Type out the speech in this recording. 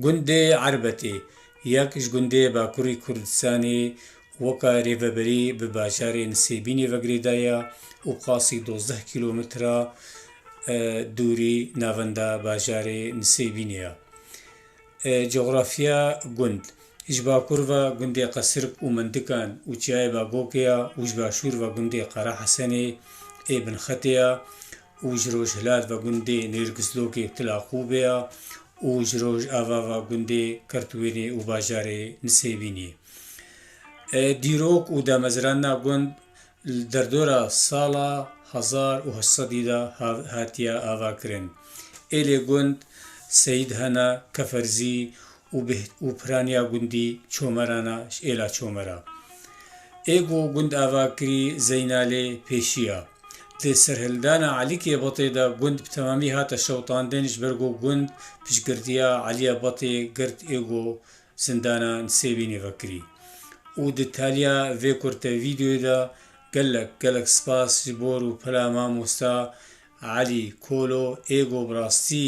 Gundê Erbetê yek ji gundê Bakurî Kurdistanê weka rêveberî bi bajarên Sêbînê ve girêdaye û bi qasî dozdeh kîlometre dûrî navenda bajarê Nisêbînê ye. Cografiya gund Ji bakur ve gundê Qesirk û Mendikan û Çiyayê Bagokê ye û ji başûr ve gundê Qerehesenê ê binxetê ye û ji rojhilat ve gundê Nêrgizlokê Tilaqûbê ya û ji roj ava ve gundê Kirtwênê û bajarê Nisêbînê. Dîrok û damezrana gund li derdora sala hezar û heşt sedî de hatiye avakirin. Êlê gund Seyîd Hena Keferzî û bi û piraniya gundî Çomerana ji êla Çomera. Ê ku gund ava kirî Zeynalê pêşiya. Di serhildana Elîkê Batê de gund bi temamî hate şewitandin ji ber ku gund piştgirtiya Elîya Batê girt ê ku zindana Nisêbînê vekirî. Û di taliya vê kurte vîdeoyê de gelek gelek spas ji bo rûpela mamosta Elî Kolo ê ku bi rastî